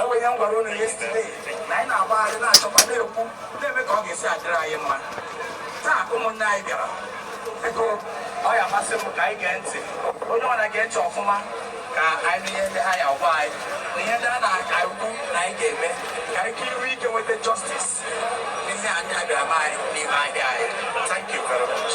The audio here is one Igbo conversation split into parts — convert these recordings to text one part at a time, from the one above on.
enwere ihe m gwara unu yesterday na anyị na-agbagharị na-achọkwa na-ekwu na-eme ka ọ ga-esi adịrị anyị mma taa ụmụnne anyị bịara biko ọ ya amasị m ka anyị gee ntị onye ọwụla gee ntị ọfụma ka anyị ihe ndị ha ya-agwa anyị na ihe ndị a na-aka ukwu na anyị ga-eme ka anyị ka iru ike nweta justice n'ihe a bịara anyị n'ime ahịa anyị thank you very much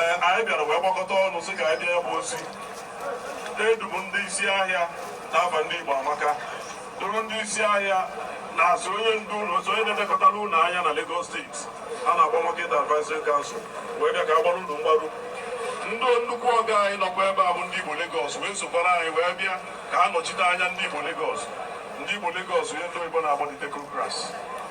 ee anyị bịara wee gbakọta ọnụ sị ka anyị bịa ya bụ ozi edu m ndị isi ahịa n'afa ndị Igbo amaka duru ndị isi ahịa na-asị onye ndu ụlọ otu onye na-elekọtara ụlọ ahịa na Lagos steeti a na-akpọ Market Advisory Council wee bịa ka a gbaara unu mgbaru ndị nnukwu ọga anyị nọkwa ebe a bụ ndị Igbo Lagos wee sokwara anyị wee bịa ka a nọchite anya ndị Igbo Lagos ndị Igbo Lagos onye ndị oyibo na-akpọ ndị technocrats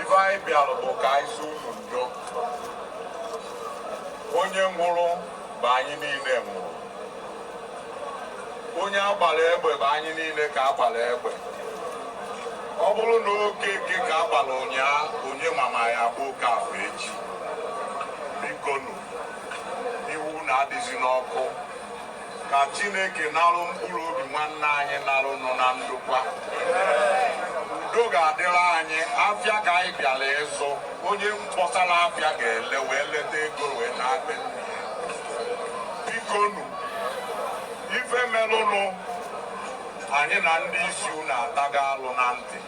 ife anyị bịara bụ ka anyị sị unu ndo onye nwụrụ bụ anyị niile nwụrụ onye a gbara egbe bụ anyị niile ka a gbara egbe ọ bụrụ na Okeke ka a gbara ụnyaahụ onye ma ma ọ ya-abụ Okafọ echi bikonu iwe unu adịzina ọkụ ka Chineke narụ mkpụrụ obi nwanne anyị nwụrụnụ na ndokwa udo ga-adịrị anyị afịa ka anyị bịara ịzụ onye kpọsara afịa ga-ele wee leta ego wee naa be nna ya bikonu ife merụnụ anyị na ndị isi unu atago alụ na ntị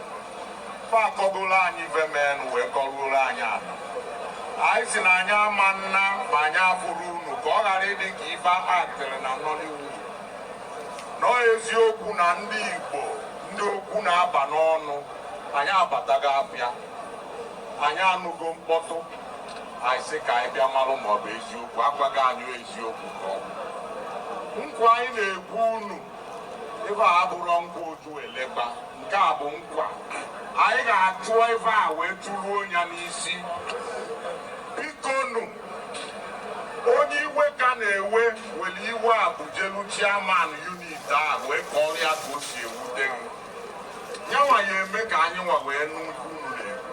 fa akọgoro anyị ife menụ wee kọruoro anyị ala anyị sị na anyị ama naba ma anyị afụrọ unu ka ọ ghara ịdị ka ife aktịrị na Nollywood na ọ eziokwu na ndị Igbo ndị okwu na-aba n'ọnụ anyị abatago afịa anyị anụgo mkpọtụ anyị sị ka anyị bịa malụ ma ọ bụ eziokwu agwago anyị eziokwu nke a bụ nkwa anyị na-ekwe unu ife a abụrọ nkwa otu elekwa nke a bụ nkwa anyị ga-achụ ife a wee chụruo ya n'isi bikonu onye iwe ka na-ewe were iwe afụ jelu chairman unit a wee kọọrọ ya etu o si ewute gị nyanwa ya-eme ka anyị nwa wee nụ okwu unu na-ekwu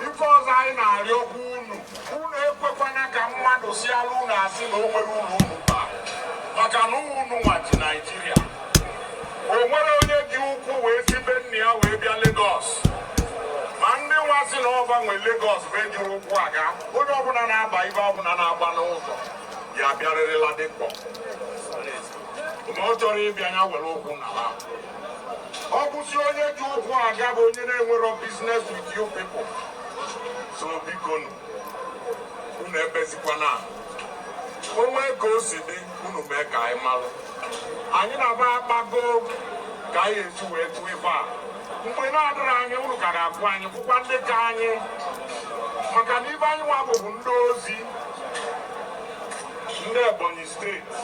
ife ọzọ anyị na-arịọkwa unu unu ekwekwana ka mmadụ sịalụ unu asị na o nwere ụlọ unu taa maka na unu nwa ji naijiria o nwerọ onye ji ụkwụ wee si be nna ya wee bịa Lagos ma ndị nwa sị na ọ fa nwe Lagos be ji ụkwụ aga onye ọbụla na-agba ife ọbụla na-agba n'ụzọ ya bịarịrịla dịkpọ ma ọ chọrọ ịbịa ya were ụkwụ n'ala ọ bụzi onye ji ụkwụ aga bụ onye na-enwerọ business with you people so bikonụ unu ebezikwana. o nwee ka o si dị unu mee ka anyị malụ anyị na ha akpago ka anyị esi wee tụọ ife a mgbe na-adịrị anyị unu ka ga-akwụ anyị bụkwa ndị ka anyị maka na ibe anyị nwa bụbụ ndị ozi Ndị Ebonyi steeti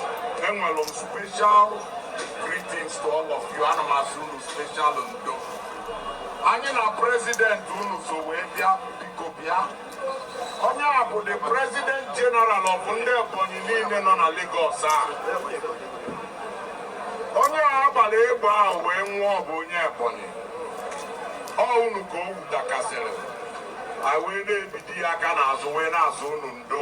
enwere m special greetings to all of you ana m asị unu special ndo anyị na president unu so wee bịa biko bịa onye a bụ the president general of ndị Ebonyi niile nọ na Lagos a onye a gbara egbe ahụ wee nwụọ bụ onye Ebonyi ọ unu ka o wutakasịrị anyị wee na-ebido ya aka n'azụ wee na-asị unu ndo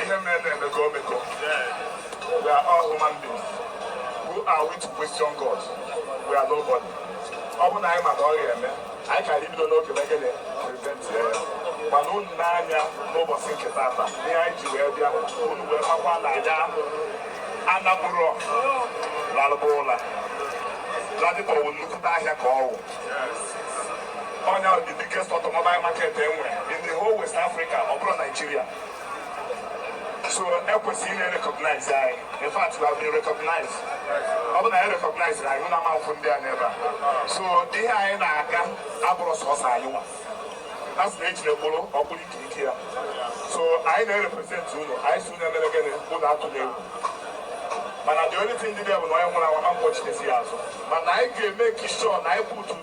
ihe merenụ emego o mego we are all human beings who are we to question God we are nobody ọ bụ na anyị ma ka ọ ga-eme anyị ka anyị bido n'oge megide prevent ya mana unu n'anya n'ụbọchị nke tata ihe anyị ji wee bịa unu wee makwa na ya anabụrụ lalụba ụla Ladipo wụ nnukwute ahịa ka ọ wụ Ọ nya the biggest automobile market e nwere in the whole West Africa, ọ bụrọ Nigeria. So e kwesịrị ịna-recognize anyị. In fact, we have been recognized. Ọ bụ na anyị recognize na anyị na ama afụ ndị a n'ebe a. So ihe anyị na-aga abụrọ sọsọ anyị nwa. A sị na ejiri mkpụrụ ọ bụrụ ike ike ya. So anyị na-represent unu, anyị sị unu emena gịnị unu atụna egwu. mana the only thing dị bụ na onye nwụrụ anwụ a ma kpọchite ya azụ mana anyị ga-make sure na anyị put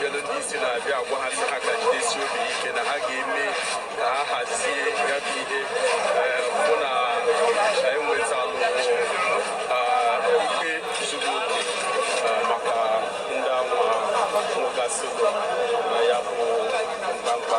melu ndị isi na-abịa agwa ha sị ha ka jidesi obi ike na ha ga-eme ka ha hazie ya bụ ihe hụ na e nwetalụ ikpe zuru oke maka ndị anwa nwụgasị na ya bụ mkpamkpa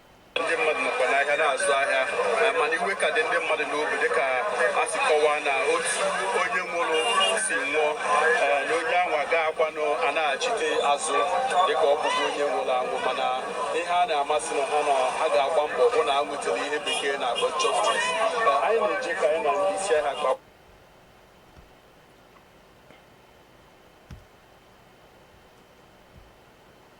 ndị mmadụ nọkwa n'ahịa na-azụ ahịa eh, mana iwe ka dị ndị mmadụ n'obi dịka a si kọwaa na otu onye nwụrụ si nwụọ eh, na onye ahụ agaghịkwanụ anachite azụ dịka ọ bụzi onye nwụrụ anwụ mana ihe a na-amasị na ha na ha ga-agba mbọ hụ na ha nwetara ihe bekee na-akpọ justice Eh, anyị na-eje ka anyị na ndị isi ahịa kpa